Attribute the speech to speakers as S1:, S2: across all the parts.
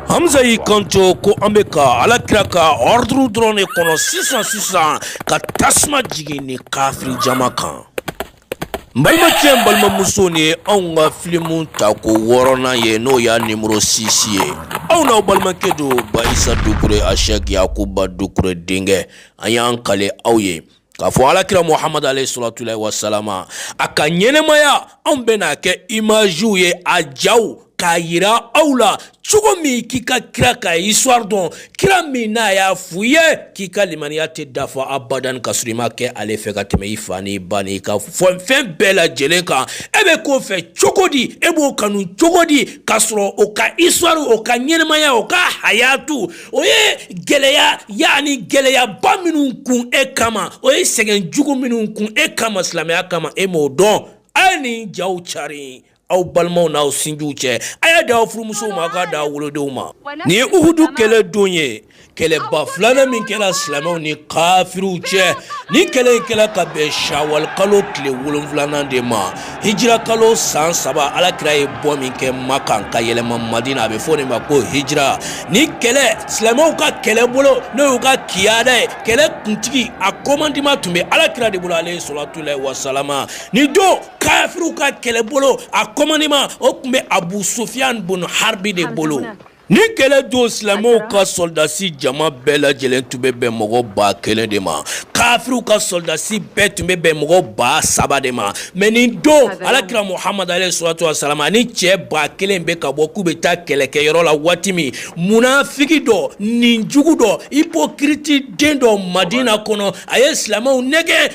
S1: hamza y'i kanto ko an bɛ ka ala kira ka ɔriduru dɔrɔn de kɔnɔ sisan sisan ka tasuma jigin nin kafiri jama kan n balimacɛ n balimamusow nin ye anw ka filimu tako wɔɔrɔnan ye n'o y'a nimoro sisi ye aw n'aw balimakɛ don bayisa dukure ashɛk yakuba dukure denkɛ an y'an kali aw ye k'a fɔ alakira muhamad alayhi salatulahi wasalama a ka ɲɛnɛmaya anw bɛna a kɛ imaziw ye a jaw k'a yira aw la cogo min k'i ka kira ka histoire dɔn kira min n'a y'a f'u ye k'i ka limaniya tɛ dafa abadan k'a sɔrɔ i ma kɛ ale fɛ ka tɛmɛ i fa n'i ba n'i ka fɔ fɛn bɛɛ lajɛlen kan e bɛ k'o fɛ cogo di e b'o kanu cogo di k'a sɔrɔ o ka histoire o ka ɲɛnɛmaya o ka hayatu o ye gɛlɛya yani gɛlɛyaba minnu kun e kama o ye sɛgɛn jugu minnu kun e kama silamɛya kama e m'o dɔn a ye nin jaw cari aw balimaw n'aw sinjiw cɛ a y'a di aw furumusow ma aw k'a di aw wolodenw ma nin ye uhudu kɛlɛ don ye kɛlɛba filanan min kɛra silamɛw ni kafiriw cɛ nin kɛlɛ in kɛra ka bɛn shawal kalo tile wolonwulanan de ma Hijira kalo san saba alakira ye bɔ min kɛ makan ka yɛlɛma madina a bɛ fɔ o de ma ko hijira nin kɛlɛ silamɛw ka kɛlɛ bolo n'o y'u ka kiyada ye kɛlɛ kuntigi a kɔmandima tun bɛ alakira de bolo alayhi salatulahi wasalama nin don kafiriw ka kɛlɛ bolo a kɔmandima o tun bɛ abu sufiyan bun haribi de bolo Nin kɛlɛ don silamɛw ka sɔrɔdasi jama bɛɛ lajɛlen tun bɛ bɛn mɔgɔ ba kelen de ma kafiriw ka sɔrɔdasi bɛɛ tun bɛ bɛn mɔgɔ ba saba de ma mɛ nin don ala kira muhamad alayhi salatu wasalam ani cɛ ba kelen bɛ ka bɔ k'u bɛ taa kɛlɛkɛyɔrɔ la waati min munafiki dɔ ninjugu dɔ hypocrite den dɔ madina kɔnɔ a ye silamɛw nɛgɛn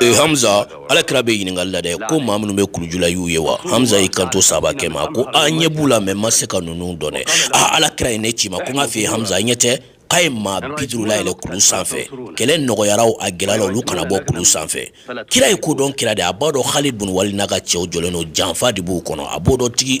S1: Ee hamza alakira bɛ ɲininkali la dɛ ko maa minnu bɛ kulu ju la i y'u ye wa hamza y'i kanto sahabakɛ ma ko an ɲɛ b'u la mɛ an ma se ka ninnu dɔn aaa alakira ye ne ci i ma ko n k'a f'i ye hamza a yɛrɛ k'a ye maa biduuru layɛlɛ kulu sanfɛ kɛlɛ nɔgɔyara wo a gɛlɛyara olu kana bɔ kulu sanfɛ kira ye kodɔn kira de a b'a dɔn halid bunu walid n'a ka cɛw jɔlen don janfa de b'u kɔnɔ a b'o dɔn tigi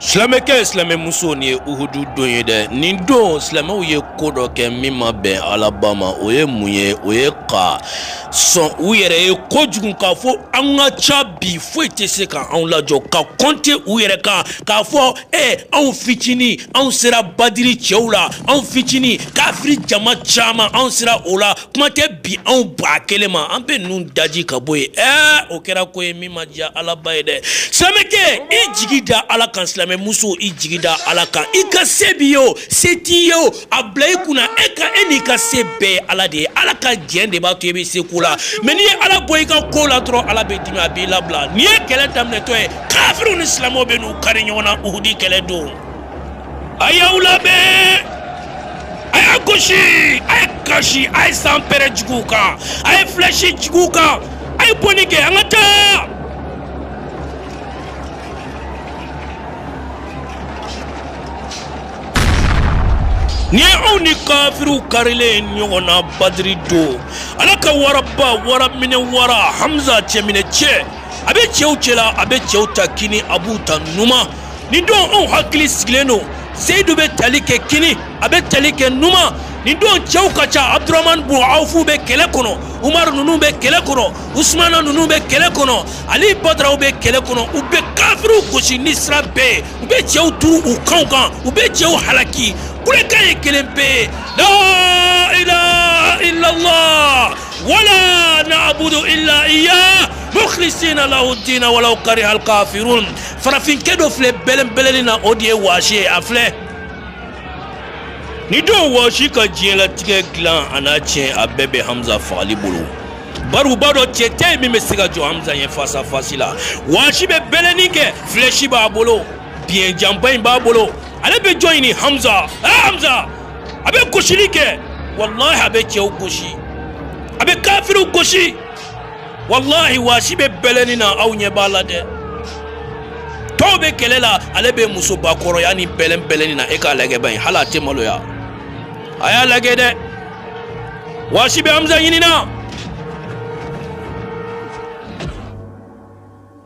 S1: silamɛkɛw silamɛmusow nin ye uhudu don ye dɛ nin don silamɛw ye ko dɔ kɛ min ma bɛn alaba ma o ye mun ye o ye ka sɔn u yɛrɛ ye kojugu k'a fɔ an ka ca bi foyi tɛ se ka anw lajɔ ka kɔnte u yɛrɛ kan k'a fɔ e anw fitinin anw sera badiri cɛw la anw fitinin kafiri jama caman anw sera o la kuma tɛ bi anw ba kelen ma an bɛ ninnu daji ka bɔ yen ɛɛ o kɛra ko ye min ma diya alaba ye dɛ silamɛkɛ i jigi da ala kan silamɛ muso i jigi da ala kan i ka se b'i ye o se t'i ye o a bila i kunna e ka e n'i ka se bɛɛ ye ala de ye ala ka jɛn de b'a to i bɛ se ko la mɛ n'i ye ala bɔ i ka ko la dɔrɔn ala bɛ dimi a b'i labila nin ye kɛlɛ daminɛtɔ ye kafiriw ni silamɛw bɛn'u kari ɲɔgɔn na uhudi kɛlɛ don a y'aw labɛn a y'a gosi a ye kasi a ye sanpɛrɛn juguw kan a ye filɛsi juguw kan a ye bɔnni kɛ an ka taa nin ye anw ni kafiriw karilen ye ɲɔgɔn na badiri don ala ka waraba wara minɛ wara hamza cɛminɛ cɛ a bɛ cɛw cɛla a bɛ cɛw ta kini a b'u ta numan nin don anw hakili sigilen don zeyidu bɛ tali kɛ kini a bɛ tali kɛ numan nin don cɛw ka ca abdurahman bun awfu bɛ kɛlɛ kɔnɔ umaru ninnu bɛ kɛlɛ kɔnɔ usumana ninnu bɛ kɛlɛ kɔnɔ ali badaraw bɛ kɛlɛ kɔnɔ u bɛ kafiriw gosi ni sira bɛɛ ye u bɛ cɛw turu u kanw kan u bɛ cɛw halaki kulekan ye kelen pe ye la ilaha illallah wala na'budu illa iya mukhlisina lahu dina walaw kariha alkafirun farafinkɛ dɔ filɛ bɛlɛnbɛlɛni na o de ye waasi ye a filɛ nin don waasi ka diɲɛlatigɛ dilan an'a tiɲɛ a bɛɛ bɛ hamza fagali bolo bari u b'a dɔn cɛ tɛ yen min bɛ se ka jɔ hamza ɲɛ fasafasi la waasi bɛ bɛlɛnni kɛ filɛsi b'a bolo biɲɛ janba in b'a bolo ale bɛ jɔn ɲini hamza ɛ hamza a bɛ gosili kɛ walahi a bɛ cɛw gosi a bɛ kafiriw gosi walahi waasi bɛ bɛlɛnni na aw ɲɛ b'a la dɛ tɔw bɛ kɛlɛ la ale bɛ muso bakɔrɔya ni bɛlɛnbɛlɛnni na e k'a lagɛ bani hali a tɛ maloya a y'a lagɛ dɛ waasi bɛ hamza ɲinina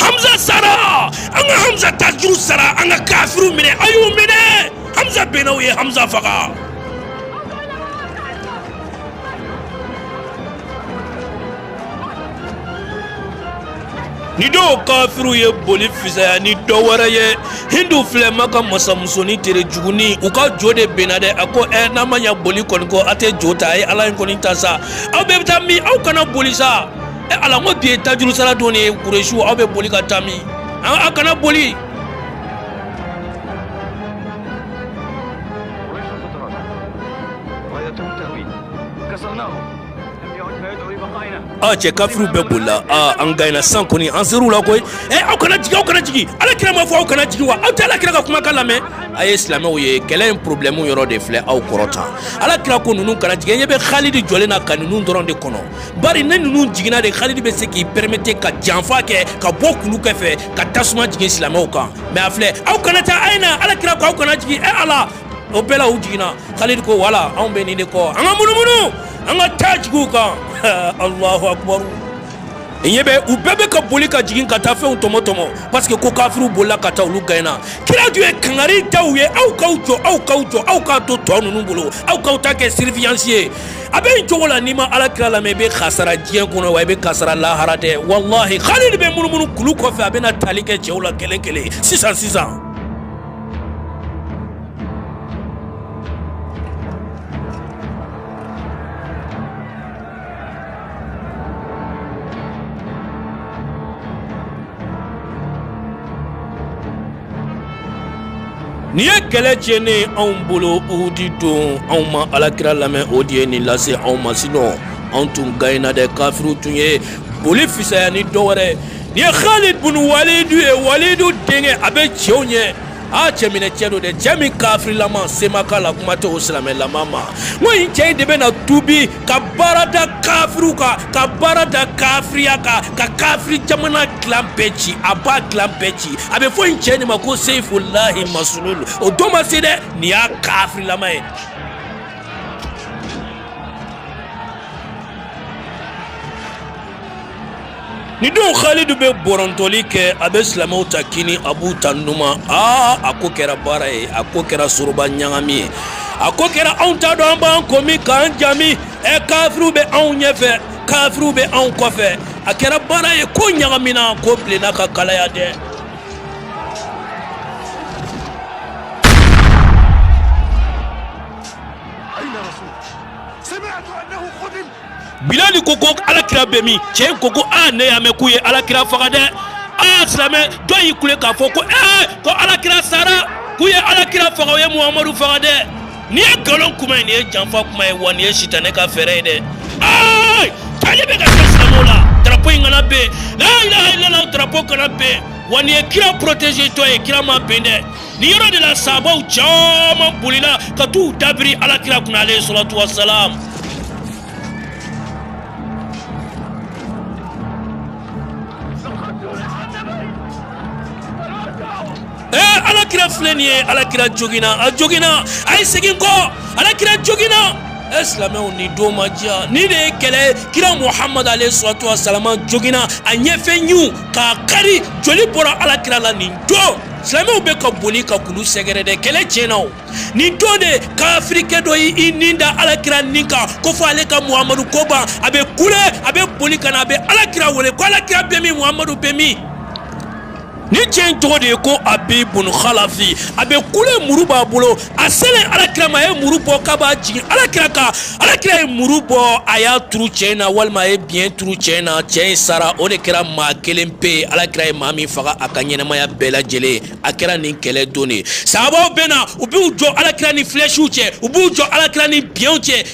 S1: hamza sara an ka hamza tajuru sara an ka kafiru minɛ a y'u minɛ hamza benna u ye hamza faga nin don kafiriw ye boli fisaya ni dɔ wɛrɛ ye hindu filɛ maka masamusoni tere juguni u ka jo de benna dɛ a ko ɛ n'a ma ɲa boli kɔni kɔ a tɛ jo ta a ye ala in kɔni ta sa aw bɛɛ bɛ taa min aw kana boli sa ɛ ala ko bi ye tajurusara don de ye kuresiw aw bɛ boli ka taa min aw kana boli Aa cɛ kafiriw bɛɛ bolila an gaɲena san kɔni an sera u la koyi ee aw kana jigin aw kana jigin ala kira ma fɔ aw kana jigin wa aw tɛ ala kira ka kumakan lamɛn a ye silamɛw ye kɛlɛ in porobilɛmu yɔrɔ de filɛ aw kɔrɔta ala kira ko ninnu kana jigin ɲɛ bɛ halidi jɔlen na ka ninnu dɔrɔn de kɔnɔ bari ni ninnu jiginna dɛ halidi bɛ se k'i pɛrɛmete ka janfa kɛ ka bɔ kulu kɛfɛ ka tasuma jigin silamɛw kan mɛ a filɛ aw kana taa a ye na ala kira ko aw kana jigin e ala o bɛɛ la u jiginna khalid ko wala anw bɛ nin de kɔ an ka munumunu an ka taa jigin u kan alahu akubaru ɲɛ bɛ u bɛɛ bɛ ka boli ka jigin ka taa fɛnw tɔmɔ tɔmɔ parce que ko kafiriw bolila ka taa olu gɛnna kira tun ye kangari da u ye aw k'aw jɔ aw k'aw jɔ aw k'a to tɔ ninnu bolo aw k'aw ta kɛ surveillance ye a bɛ nin cogo la n'i ma ala kira lamɛn i bɛ kasara diɲɛ kɔnɔ wa i bɛ kasara lahara dɛ walahi khalid bɛ munumunu kulu kɔfɛ a bɛna tali kɛ cɛw la kelen kelen sisan sisan Nin ye kɛlɛ tiɲɛ anw bolo uhudi don anw ma alakira lamɛn o de ye nin lase anw ma sinon anw tun gaɲena dɛ kafiriw tun ye boli fisaya ni dɔ wɛrɛ Nin ye Khalid bun Walidu ye, Walidu denkɛ a bɛ cɛw ɲɛ, aa cɛ minɛ cɛ don dɛ, cɛ min kafirilama se ma k'a la kuma tɛ o silamɛlama ma, n ko nin cɛ in de bɛna tuubi ka baara da kafiriw kan, ka baara da kafiriya kan, ka kafiri jamana fila bɛɛ ci, a b'a fila bɛɛ ci, a bɛ fɔ nin cɛ in de ma ko seyifulahi masulul o don ma se dɛ, nin y'a kafirilama ye. nin don halidu bɛ bɔrɔntɔli kɛ a bɛ silamɛw ta kini a b'u ta numan aa a ko kɛra baara ye a ko kɛra soroba ɲagami ye a ko kɛra anw t'a dɔn an b'an kɔ min k'an ɲa min ɛ kafiriw bɛ anw ɲɛfɛ kafiriw bɛ anw kɔfɛ a kɛra baara ye ko ɲagamina ko bilenna ka kalaya dɛ bilali ko ko alakira bɛ min cɛ in ko ko aa ne y'a mɛn k'u ye alakira faga dɛ aa silamɛ dɔ y'i kule k'a fɔ ko ee ko alakira sara k'u ye alakira faga u ye muhamadu faga dɛ nin ye nkalon kuma ye nin ye janfa kuma ye wa nin ye sitanɛ ka fɛɛrɛ ye dɛ aa tali bɛ ka kɛ silamɛw la drapo in kana ben la ilaha illallah drapo kana ben wa nin ye kira protégé tɔ ye kira ma ben dɛ ni yɔrɔ de la sahabaw caman bolila ka t'u dabiri alakira kunna alayihi salatu wasalam ee alakira filɛ nin ye alakira joginna a joginna a ye segin kɔ alakira joginna e silamɛw nin don ma diya ni de ye kɛlɛ kira muhamadu alayihi salatu wasalama joginna a ɲɛfɛ ɲinw k'a kari joli bɔra alakira la nin don silamɛw bɛ ka boli ka kulu sɛgɛrɛ dɛ kɛlɛ tiɲɛna o nin don de kafirikɛ dɔ y'i nin da alakira nin kan ko fo ale ka muhamadu ko ban a bɛ kule a bɛ boli ka na a bɛ alakira wele ko alakira bɛ min muhamadu bɛ min nin cɛ in tɔgɔ de ye ko abi bun khalafi a bɛ kule muru b'a bolo a selen alakira ma a ye muru bɔ k'a b'a jigin alakira kan alakira ye muru bɔ a y'a turu cɛ in na walima a ye biɲɛ turu cɛ in na cɛ in sara o de kɛra maa kelen pe ye alakira ye maa min faga a ka ɲɛnamaya bɛɛ lajɛlen a kɛra nin kɛlɛ don de ye sahabaw bɛ na u b'u jɔ alakira ni filɛsiw cɛ u b'u jɔ alakira ni biɲɛw cɛ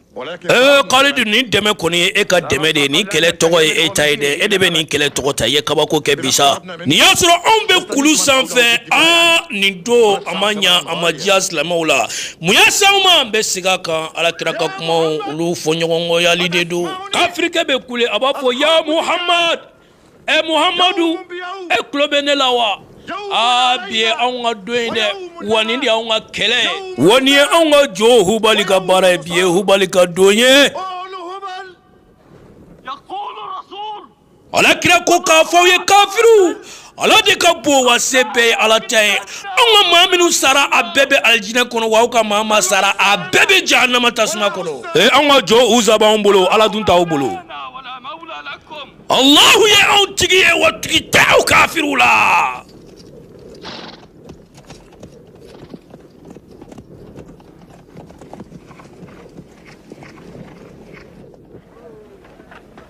S1: ee kalidu nin dɛmɛ kɔni ye e ka dɛmɛ de ye nin kɛlɛ tɔgɔ ye e ta ye dɛ e de bɛ nin kɛlɛ tɔgɔ ta i ye kabako kɛ bi sa nin y'a sɔrɔ anw bɛ kulu sanfɛ aa nin don a ma ɲa a ma diya silamɛw la mun y'a se anw ma an bɛ segin a kan alakira ka kumaw olu fɔɲɔgɔnkɔyali de don kafirikɛ bɛ kule a b'a fɔ ya muhamad ɛ muhamadu e tulo bɛ ne la wa aa bi ye anw ka don ye dɛ wa nin de y'anw ka kɛlɛ ye wa nin ye anw ka jo hubali ka baara ye bi ye hubali ka don ye ala kira ko k'a fɔ u ye kafiriw ala de ka bon wa se bɛɛ ye ala ta ye anw ka maa minnu sara a bɛɛ bɛ alijinɛ kɔnɔ wa aw ka maa maa sara a bɛɛ bɛ jahanama tasuma kɔnɔ ee anw ka jo uza b'anw bolo ala dun t'aw bolo Alahu ye anw tigi ye wa tigi tɛ aw kafiriw la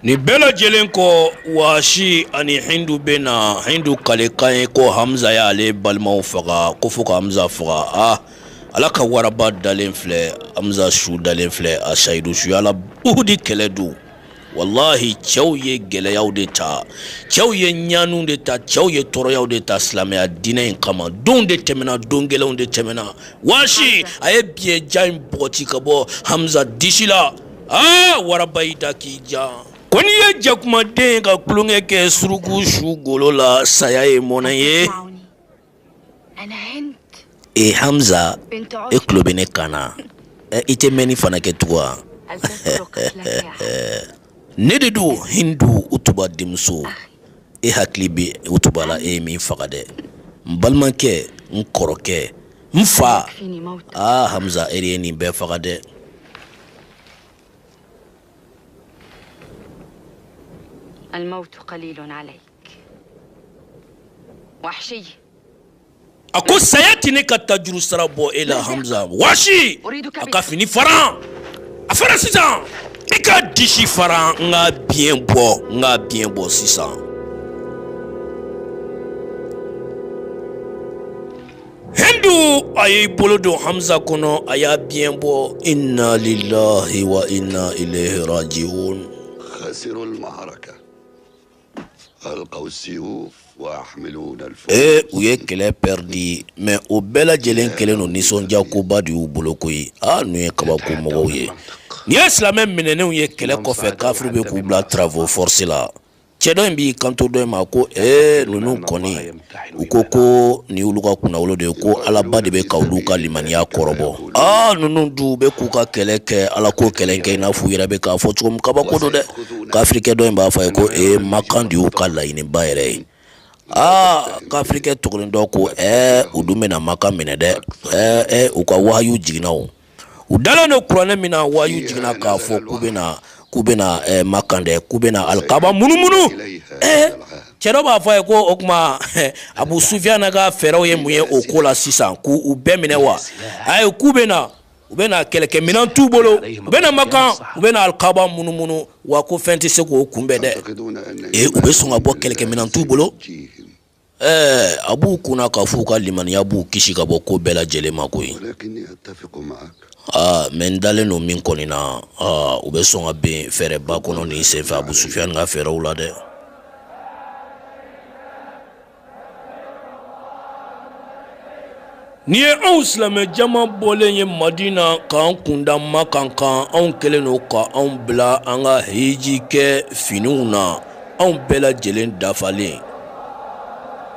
S1: nin bɛɛ lajɛlen kɔ waasi ani hindu bɛ na hindu kalikan ye ko hamza y'ale balimaw faga ko fo ka hamza faga a ah, ala ka waraba dalen filɛ hamza su dalen filɛ a sayidu suhada uhudi kɛlɛ don walahi cɛw ye gɛlɛyaw de ta cɛw ye ɲaniw de ta cɛw ye tɔɔrɔyaw de ta silamɛya diinɛ in kama donw de tɛmɛna don gɛlɛnw de tɛmɛna waasi a ye biɲɛ jan in bɔgɔti ka bɔ hamza disi la aa waraba y'i da k'i ja ko n'i ye jakumaden ka tulonkɛ kɛ suruku su golo la saya ye mɔnɛ ye ee hamza e tulo bɛ ne kan na i tɛ mɛnni fana kɛ tugun wa ne de don hindu utuba denmuso e hakili bɛ utuba la e ye min faga dɛ n balimakɛ n kɔrɔkɛ n fa aa hamza e de ye nin bɛɛ faga dɛ a ko saya tɛ ne ka tajurusara bɔ e la hamiza waasi a ka fini faran a fara sisan i k'a disi faran n k'a biɲɛ bɔ n k'a biɲɛ bɔ sisan hindu a y'i bolo don hamiza kɔnɔ a y'a biɲɛ bɔ inna lillahi wa inna ilayhi rajiun ee u ye kɛlɛ pɛridi mɛ o bɛɛ lajɛlen kɛlen don nisɔndiyakoba de y'u bolo koyi a ninnu ye kabako mɔgɔw ye nin ye silamɛ minɛnenw ye kɛlɛ kɔfɛ kafiri bɛ k'u bila travaux forcés la cɛ dɔ in b'i kanto dɔ in ma ko ee ninnu kɔni u ko ko nin olu ka kunnawolo de ye ko alaba de bɛ ka olu ka limaniya kɔrɔbɔ aa ninnu dun bɛ k'u ka kɛlɛ kɛ ala ko kɛlɛ kɛ i n'a fɔ u yɛrɛ bɛ k'a fɔ cogo min kabako don dɛ kafirikɛ dɔ in b'a fɔ a ye ko ee makan de y'u ka laɲiniba yɛrɛ ye aa kafirikɛ tɔ kelen dɔ ko u dun bɛna makan minɛ dɛ u ka wahayu jiginna u dalen don kuranɛ min na wayu jiginna k'a fɔ k'u bɛna k'u bɛ na eh, makan dɛ k'u bɛna alikaba munumunu eh, cɛ dɔ b'a fɔ a ye ko o tuma eh, abu sufiyana ka fɛɛrɛw ye mun ye o ko la sisan k'u bɛɛ minɛ wa ayi k'u bɛ na u bɛ na kɛlɛkɛminɛn t'u bolo u bɛ na makan u bɛna alikaba munumunu wa ko fɛn tɛ se k'o kunbɛn dɛ ee u bɛ sɔn ka bɔ kɛlɛkɛminɛn t'u bolo Ɛɛ a b'u kun na k'a fɔ u ka limaniya b'u kisi ka bɔ ko bɛɛ lajɛlen ma koyi aa mɛ n dalen don min kɔni na u bɛ sɔn ka bin fɛɛrɛba kɔnɔ nin senfɛ abu sufiyan ka fɛɛrɛw la dɛ Nin ye anw silamɛ caman bɔlen ye madina k'an kunda makan kan anw kɛlen don k'anw bila an ka hijikɛfiniw na anw bɛɛ lajɛlen dafalen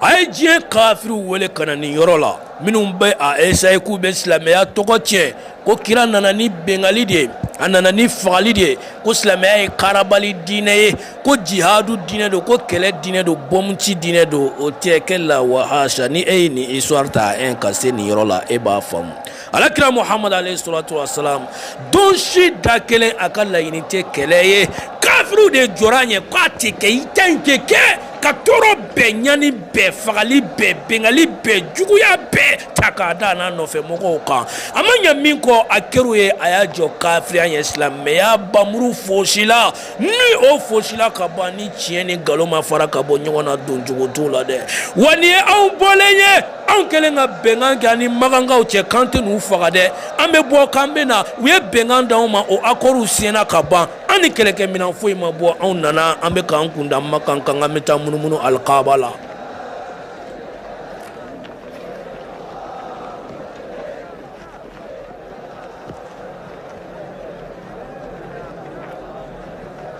S1: a ye diɲɛ kafiriw wele ka na nin yɔrɔ la minnu bɛ a essayer k'u bɛ silamɛya tɔgɔ tiɲɛ ko kira nana ni bɛnkanni de ye a nana ni fagali de ye ko silamɛya ye karabali diinɛ ye ko jihadu diinɛ don ko kɛlɛ diinɛ don bɔmuci diinɛ don o tɛ kɛ la wahasa ni e ye nin histoire ta en ka se nin yɔrɔ la e b'a faamu alakira muhamadu alayhi salatu wasalam don si da kelen a ka laɲini tɛ kɛlɛ ye kafiriw de jɔr'a ɲɛ k'a tɛ kɛ i ta in tɛ kɛ ka tɔɔrɔ bɛɛ ɲani bɛɛ fagali bɛɛ binkali bɛɛ juguya bɛɛ ta k'a d'a n'a nɔfɛ mɔgɔw kan a ma ɲɛ min kɔ a kɛr'u ye a y'a jɔ kafiriya ɲɛ silamɛya npanmuru foosila Ni o foosila ka ban ni tiɲɛ ni nkalon ma fara ka bɔ ɲɔgɔn na don cogo t'o la dɛ wa nin ye anw bɔlen ye anw kɛlen ka bɛnkan kɛ an ni makankaw cɛ k'an tɛ n'u faga dɛ an bɛ bɔ k'an bɛ na u ye bɛnkan di anw ma o akɔriw siɲɛna ka ban an ni kɛlɛkɛminɛn foyi ma bɔ anw nana an bɛ k'an kunda makan kan k'an bɛ taa munumunu alikaaba la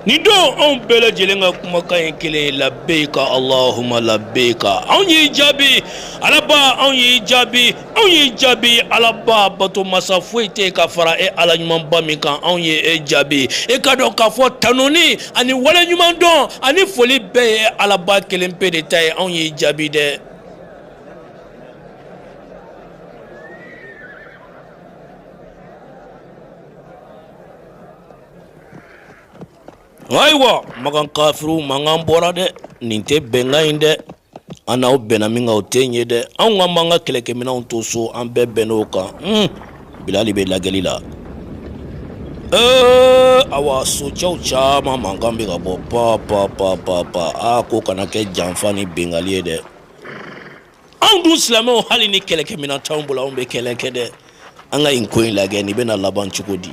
S1: nin don anw bɛɛ lajɛlen ka kumakan ye kelen ye labeka alahuma labeka anw y'i jaabi alaba anw y'i jaabi anw y'i jaabi alaba bato masa foyi tɛ ye ka fara e ala ɲumanba min kan anw ye e jaabi i k'a dɔn k'a fɔ tanuni ani waleɲumandɔn ani foli bɛɛ ye e alaba kelen pe de ta ye anw y'i jaabi dɛ Ayiwa makan kafiri mankan bɔra dɛ nin tɛ bɛnkan ye dɛ an n'aw bɛnna min kan o tɛ nin ye dɛ anw k'an b'an ka kɛlɛkɛminɛnw to so an bɛɛ bɛnn'o kan bilali bɛ lagɛli la ee ayiwa socɛw caman mankan bɛ ka bɔ pan pan pan pan pan aa ko kana kɛ janfa ni binkali ye dɛ anw dun silamɛw hali ni kɛlɛkɛminɛn t'anw bolo anw bɛ kɛlɛ kɛ dɛ an ka nin ko in lagɛ nin bɛna laban cogo di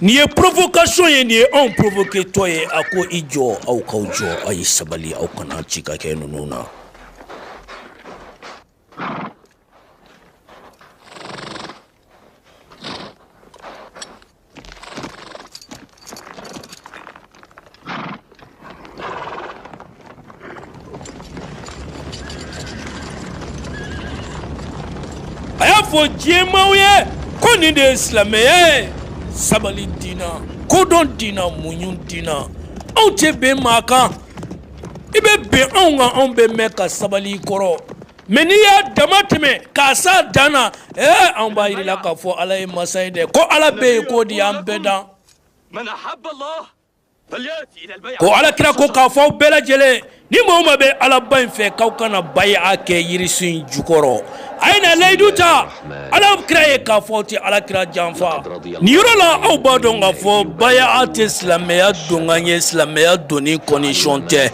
S1: Nin ye provocation ye nin ye anw provoketɔ ye a ko i jɔ aw k'aw jɔ aw ye sabali aw kana sika kɛ ninnu na A y'a fɔ diɲɛmaaw ye ko nin de ye silamɛya ye sabali dina kodɔn dina muɲu dina anw tɛ bin maa kan i bɛ bin anw kan anw bɛ mɛn ka sabali kɔrɔ mɛ n'i y'a dama tɛmɛ k'a se a dan na ee anw b'a jir'i la k'a fɔ ala ye masa ye dɛ ko ala bɛ yen k'o di an bɛɛ dan ko alakira ko k'a fɔ aw bɛɛ lajɛlen ni maa o maa bɛ alaba in fɛ k'aw ka na bayi'a kɛ yirisu in jukɔrɔ a ye na layidu ta alakira ye k'a fɔ aw tɛ alakira janfa nin yɔrɔ la aw b'a dɔn k'a fɔ bayi'a tɛ silamɛya donkan ye silamɛya donni condition tɛ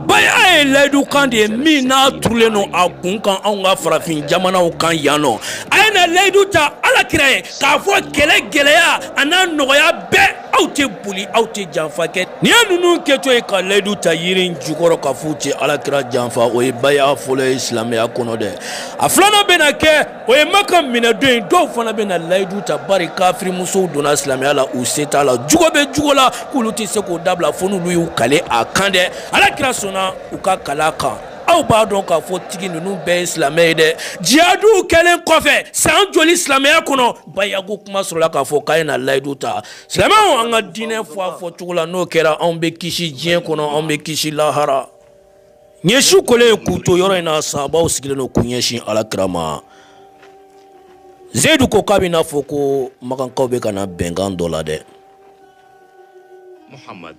S1: bayi'a ye layidukan de ye min n'a turulen don a kun kan anw ka farafin jamanaw kan yan nɔ a ye na layidu ta alakira ye k'a fɔ kɛlɛ gɛlɛya an'a nɔgɔya bɛɛ aw tɛ boli aw tɛ janfa kɛ nin ye ninnu kɛtɔ ye ka layidu ta yiri in jukɔrɔ k'a f'u tɛ alakira janfa o ye bayi'a fɔlɔ ye silamɛya kɔnɔ dɛ a filanan bɛna kɛ o ye maka minɛdon ye dɔw fana bɛna layidu ta bari kafirimusow donna silamɛya la u se t'a la jugo bɛ jugo la k'olu tɛ se k'o dabila fo n'olu y'u kale a kan dɛ alakira sɔnna u ka kalekan aw b'a dɔn k'a fɔ tigi ninnu bɛɛ ye silamɛ ye dɛ jihadiw kɛlen kɔfɛ san joli silamɛya kɔnɔ bayako kuma sɔrɔla k'a fɔ k'a ye na layidu ta silamɛw an ka diinɛ fɔ a fɔ cogo la n'o kɛra anw bɛ kisi diɲɛ kɔnɔ anw bɛ kisi lahara nin su kolen ye k'u to yɔrɔ in na sahabaw sigilen don k'u ɲɛsin alakira ma zeyidu ko k'a bɛ n'a fɔ ko makankaw bɛ ka na bɛnkan dɔ la dɛ muhamadu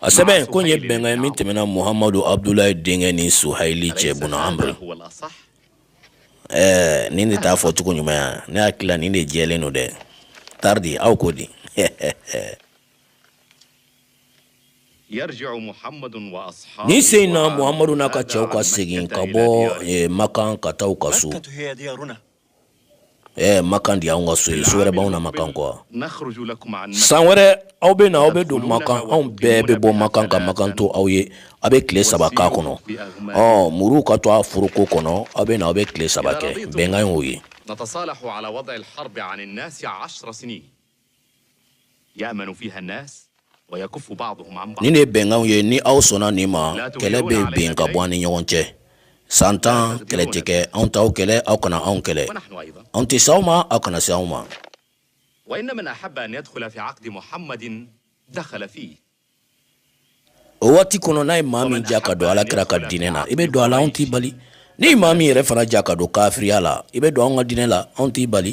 S1: a sɛbɛn ko ye bɛnkan min tɛmɛna muhamadu abudulayi denkɛ ni suhayili cɛ bun amuru ɛɛ nin de t'a fɔ cogo ɲuman ye wa ne hakili la nin de jɛlen don dɛ taridi aw ko di nin sen in na muhamadu n'a ka cɛw ka segin ka bɔ makan ka taa u ka so Eh, makan di anw ka so ye so wɛrɛ b'anw na makan kɔ san wɛrɛ aw bɛ na aw bɛ don makan anw bɛɛ bɛ bɔ makan ka makan to aw ye aw bɛ tile saba k'a kɔnɔ ɔ muruw ka to a foroko kɔnɔ aw bɛ na aw bɛ tile saba kɛ bɛnkan y'o ye Nin de ye bɛnkan ye ni aw sɔnna nin ma kɛlɛ bɛ bin ka bɔ an ni ɲɔgɔn cɛ san tan kɛlɛ tɛ kɛ anw t'aw kɛlɛ aw kana anw kɛlɛ anw tɛ se aw ma aw kana se anw ma o waati kɔnɔ n'a ye maa min diya ka don alakira ka diinɛ na i bɛ don a la anw t'i bali ni maa min yɛrɛ fana diya ka don kafiriya la i bɛ don an ka diinɛ la anw t'i bali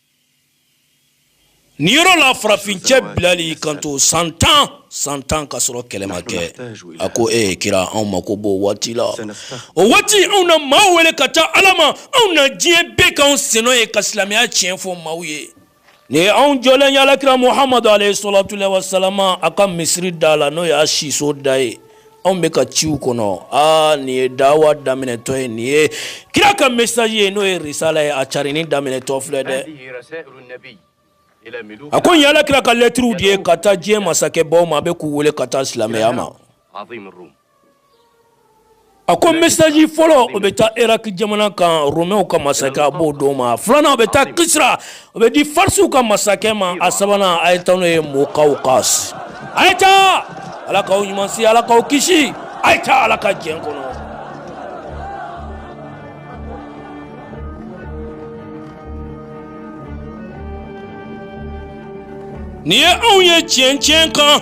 S1: Nin yɔrɔ la farafin cɛ bilali y'i kanto san tan san tan ka sɔrɔ kɛlɛ ma kɛ a ko e ye kira anw mako b'o waati la o waati anw na maa wele ka taa ala ma anw na diɲɛ bɛɛ k'anw sennɔ ye ka silamɛya tiɲɛ fɔ maaw ye nin ye anw jɔlen y'ala kira muhamadu alayhi salatu wasalamu a ka misiri da la n'o y'a siso da ye anw bɛ ka ciw kɔnɔ aa nin ye dawa daminɛtɔ ye nin ye kira ka message ye n'o ye risala ye a carinni daminɛtɔ filɛ dɛ a ko nin y'ala kira ka lɛtiriw de ye ka taa diɲɛ masakɛbaw ma a bɛ k'u wele ka taa silamɛya ma a ko message fɔlɔ o bɛ taa iraki jamana kan romɛw ka masakɛ a b'o d'o ma filanan o bɛ taa kisira o bɛ di farisiw ka masakɛ ma a sabanan a ye taa n'o ye mukawkisi a ye taa ala k'aw ɲuman se ala k'aw kisi a ye taa ala ka jɛn kɔnɔ nin ye anw ye tiɲɛ tiɲɛ kan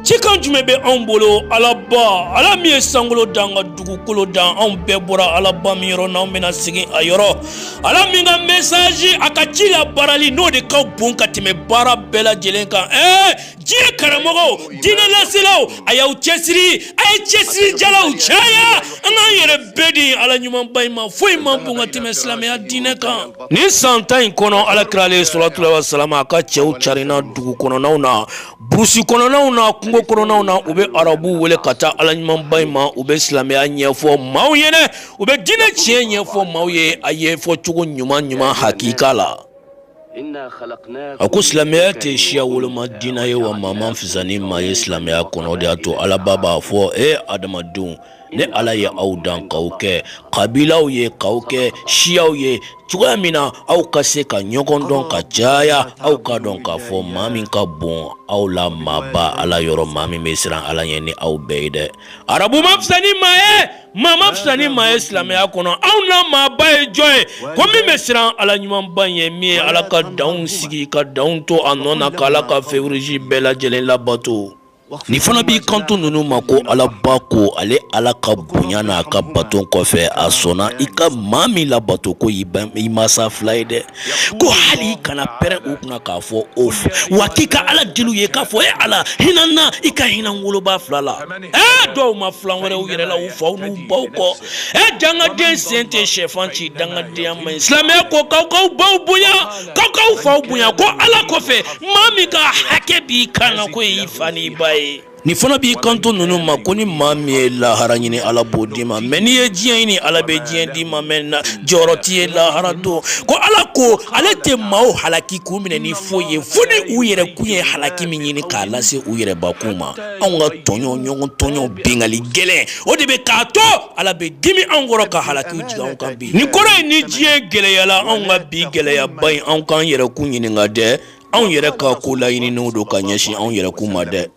S1: cikan jumɛn bɛ anw bolo alaba ala min ye sankolo dan ka dugukolo dan anw bɛɛ bɔra alaba min yɔrɔ n'an bɛna segin a yɔrɔ ala min ka mɛsaji a ka ci labaarali n'o de ka bon ka tɛmɛ baara bɛɛ lajɛlen kan ɛɛ diɲɛ karamɔgɔw diinɛ laselaw a y'aw cɛsiri a ye cɛsiri jalaw caya an k'an yɛrɛ bɛɛ di ala ɲumanba in ma foyi man bon ka tɛmɛ silamɛya diinɛ kan nin san tan in kɔnɔ ala kira alayhi salatu wasalamu a ka cɛw carinna dugukɔnɔnaw na Burusi kɔnɔnaw na kungo kɔnɔnaw na u bɛ arabu wele ka taa ala ɲumanba in ma u bɛ silamɛya ɲɛfɔ maaw ye u bɛ diinɛ tiɲɛ ɲɛfɔ maaw ye a y'a fɔ cogo ɲuman ɲuman hakika la a ko silamɛya tɛ siya woloma diinɛ ye wa maa man fisa ni maa ye silamɛya kɔnɔ o de y'a to alaba b'a fɔ e adamadenw ne ala ye aw dan k'aw kɛ kabilaw ye k'aw kɛ siyaw ye cogoya min na aw ka se ka ɲɔgɔn dɔn ka caya aw k'a dɔn k'a fɔ maa min ka bon aw la maaba ala yɔrɔ maa min bɛ siran ala ɲɛ ni aw bɛɛ ye dɛ arabu man fisa ni maa ye maa man fisa ni maa ye silamɛya kɔnɔ aw na maaba ye jɔn ye ko min bɛ siran ala ɲumanba ɲɛ min ye ala ka danw sigi ka danw to a nɔ na k'ala ka fewurisi bɛɛ lajɛlen labato Nin fana b'i kanto ninnu ma ko alaba ko ale ala ka bonya n'a ka bato kɔfɛ a sɔnna i ka maa min labato ko i i masa fila ye dɛ ko hali i kana pɛrɛn u kunna k'a fɔ ufu wa k'i ka ala deli u ye k'a fɔ e ala hinɛ an na i ka hinɛ an wolobaa fila la dɔw ma fila wɛrɛ u yɛrɛ la u faw n'u baw kɔ e dangaden sen tɛ shɛfan ci dangadenya man ɲi silamɛya ko k'aw k'aw baw bonya k'aw faw bonya ko ala kɔfɛ maa min ka hakɛ b'i kan na k'o y'i fa n'i ba ye nin fana b'i kanto ninnu ma ko ni maa min ye lahara ɲini ala b'o d'i ma mɛ n'i ye diɲɛ ɲini ala bɛ diɲɛ d'i ma mɛ jɔyɔrɔ t'i ye lahara don ko ala ko ale tɛ maaw halaki k'u minɛ ni foyi ye fo ni u yɛrɛ kun ye halaki min ɲini k'a lase u yɛrɛbakun ma anw ka tɔɲɔ ɲɔgɔn tɔɲɔ binkanni gɛlɛn o de bɛ k'a to ala bɛ dimi anw kɔrɔ ka halaki jigin anw kan bi nin kɔrɔ ye ni diɲɛ gɛlɛyala anw ka bi gɛlɛyaba in anw k'an yɛrɛkun ɲininka dɛ anw yɛrɛ ka ko laɲininen don ka ɲɛsin anw yɛrɛkun ma dɛ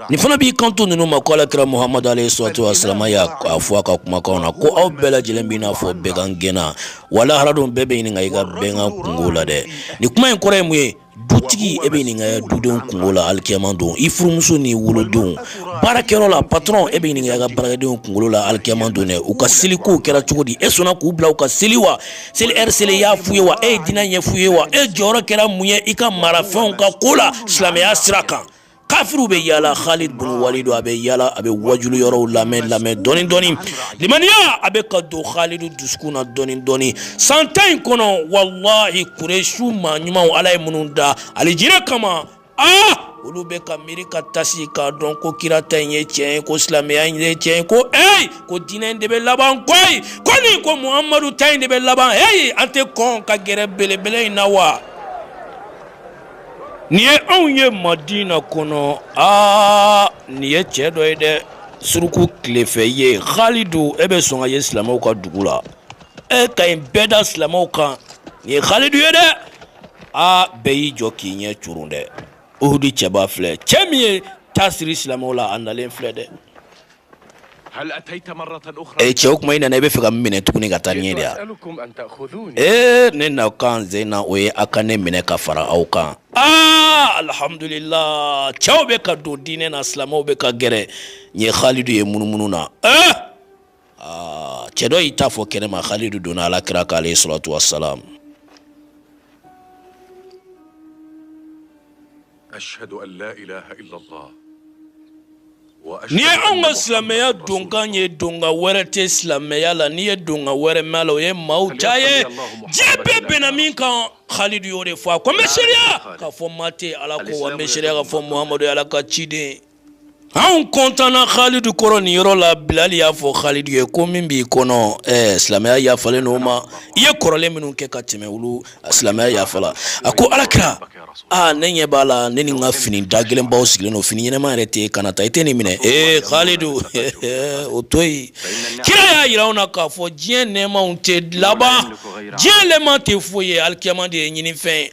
S1: nin fana b'i kanto ninnu ma ko alakira muhamadu aleyi salatu wasalamu y'a fɔ a ka kumakan na ko aw bɛɛ lajɛlen b'i n'a fɔ bɛgan gɛnna wa lahara don bɛɛ bɛ ɲininka i ka bɛgan kunko la dɛ nin kuma in kɔrɔ ye mun ye Dutigi e bɛ ɲininka i dudenw kunko la alikiyama don i furumuso n'i wolodenw baarakɛyɔrɔ la patɔrɔn e bɛ ɲininka i ka baarakɛdenw kunkolo la alikiyama don dɛ u ka seli ko kɛra cogo di e sɔnna k'u bila u ka seli wa seli lɛri selen i y'a f'u ye wa e ye diinɛ ɲɛf'u ye wa e jɔyɔrɔ kɛra mun ye i ka marafɛnw ka ko la silamɛya sira kan kafiriw bɛ yala Khalid bun Walid a bɛ yala a bɛ wajulu yɔrɔw lamɛn lamɛn dɔɔni dɔɔni limaniya a bɛ ka don Khalid dusukun na dɔɔni dɔɔni san tan in kɔnɔ walahi Kuresiw maa ɲumanw Ala ye minnu da alijinɛ kama aa olu bɛ ka miiri ka tasi k'a dɔn ko kira ta in ye tiɲɛ ye ko silamɛya in ye tiɲɛ ye ko eyi ko diinɛ in de bɛ laban koyi ko nin ko Muhamadu ta in de bɛ laban eyi an tɛ kɔn ka gɛrɛ belebele in na wa. nin ye anw ye madina kɔnɔ aa nin ye cɛ dɔ ye dɛ suruku tilefɛ ye halidu e bɛ sɔn ka ye silamɛw ka dugu la e ka ɲi bɛɛ da silamɛw kan nin ye halidu ye dɛ aa bɛɛ y'i jɔ k'i ɲɛ curun dɛ uhudi cɛba filɛ cɛ min ye taa siri silamɛw la a nalen filɛ dɛ e cɛ o kuma i nana i b'a fɛ ka mun minɛ tuguni ka taa n'a ye de ya ee ne nakan sen in na o ye a ka ne minɛ ka fara aw kan aa alihamudulila cɛw bɛ ka don diinɛ na silamɛw bɛ ka gɛrɛ u ye halidu ye munumunu na ee aa cɛ dɔ y'i ta fɔ kɛnɛma halidu donna ala kira kan aleyi salatu wasalamu Nin ye anw ka silamɛya donkan ye donkan wɛrɛ tɛ silamɛya la n'i ye donkan wɛrɛ mɛn maa la o ye maa ta ye diɲɛ bɛɛ bɛnna min kan halidu y'o de fɔ a ko n bɛ seereya k'a fɔ maa tɛ ala kɔ n bɛ seereya k'a fɔ muhamadu ye ala ka ciden anw kɔntanna khalidu kɔrɔ nin yɔrɔ la bilali y'a fɔ khalidu ye ko min b'i kɔnɔ ɛɛ eh, silamɛya yafalen n'o ma i ye kɔrɔlen minnu kɛ ka tɛmɛ olu silamɛya yafala a ko alakira aa ne ɲɛ b'a la ne ni n ka fini dagɛlɛnbaw sigilen don fini ɲɛnama yɛrɛ t'i kan a ta i tɛ nin minɛ ee eh, khalidu o to yen kira y'a yira anw na k'a fɔ diɲɛ nɛɛmaw tɛ laban diɲɛ nɛɛma tɛ foyi ye alikiyama de ye ɲinifɛn ye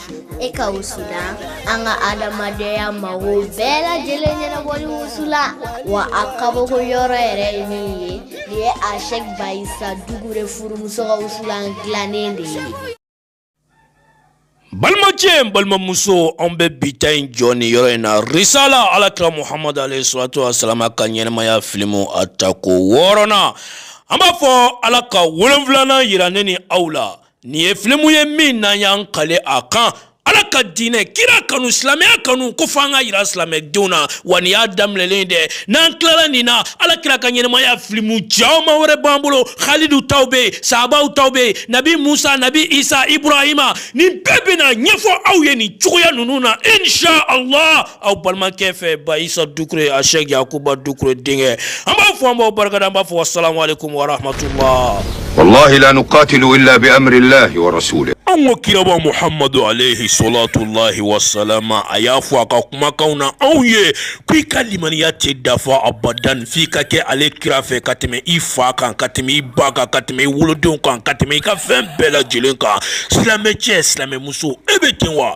S1: e ka wusulan an ka adamadenya mago bɛɛ lajɛlen ɲɛnabɔli wusulan wa a kabako yɔrɔ yɛrɛ ye min ye nin ye ashɛk bayisa dukure furumuso ka wusulan dilannen de ye balimacɛ balimamuso an bɛ bi ta in jɔ nin yɔrɔ in na risala alakira muhamadu alayhi salatu wasalama ka ɲɛnamaya filimu a tako wɔɔrɔnan an b'a fɔ ala ka wolonfilanan yira ne ni aw la nin ye filimu ye min n'an y'an kali a kan ala ka diinɛ kira kanu silamɛya kanu ko fo an k'a yira silamɛdenw na wa nin y'a daminɛlen dɛ n'an tilala nin na ala kira ka ɲɛnamaya filimu caman wɛrɛ b'an bolo halidu taw be yen sahabaw taw be yen nabi musa nabi isa ibrahima nin bɛɛ bena ɲɛfɔ aw ye nin cogoya nunu na insha allah aw balimakɛ fɛ ba isa dukure ashɛk yakuba dukure denkɛ an b'a fɔ an b'aw barika da an b'a fɔ wasalamalekum warahmatula walahila ni katilu la bɛ anla yɔrɔso la an ko kiraba muhamadu aleyi solatulayi wasalama a y'a fɔ a ka kumakan na anw ye k' i ka limaniya tɛ dafa abada f' i ka kɛ ale kira fɛ ka tɛmɛ i fa kan ka tɛmɛ i ba kan ka tɛmɛ i wolodenw kan ka tɛmɛ i ka fɛn bɛɛ lajɛlen kan silamɛcɛ silamɛmuso e bɛ ten wa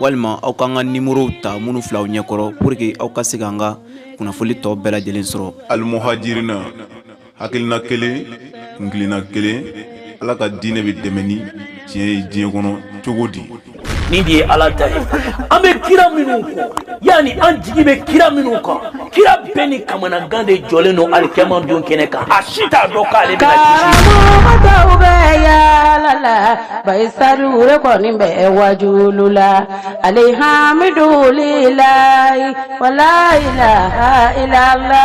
S1: walima aw k'an ka nimɔrɔw ta minnu fil'aw ɲɛkɔrɔ pour que aw ka se k'an ka kunnafoni tɔw bɛɛ lajɛlen sɔrɔ alimuhajirina hakilina kelen kuntilenna kelen ala ka diinɛ bɛ dɛmɛ ni tiɲɛ ye diɲɛ kɔnɔ cogo di nin de ye ala ta ye an bɛ kira minnu kɔ yan ni an jigi bɛ kira minnu kan kira bɛɛ ni kamanagan de jɔlen don alikiyama don kɛnɛ kan a si t'a dɔn k'ale bɛna kisi karamɔgɔw bɛ yaala la bayisa dukure kɔni bɛ wajuli la alihamidulila wala ilaha ilala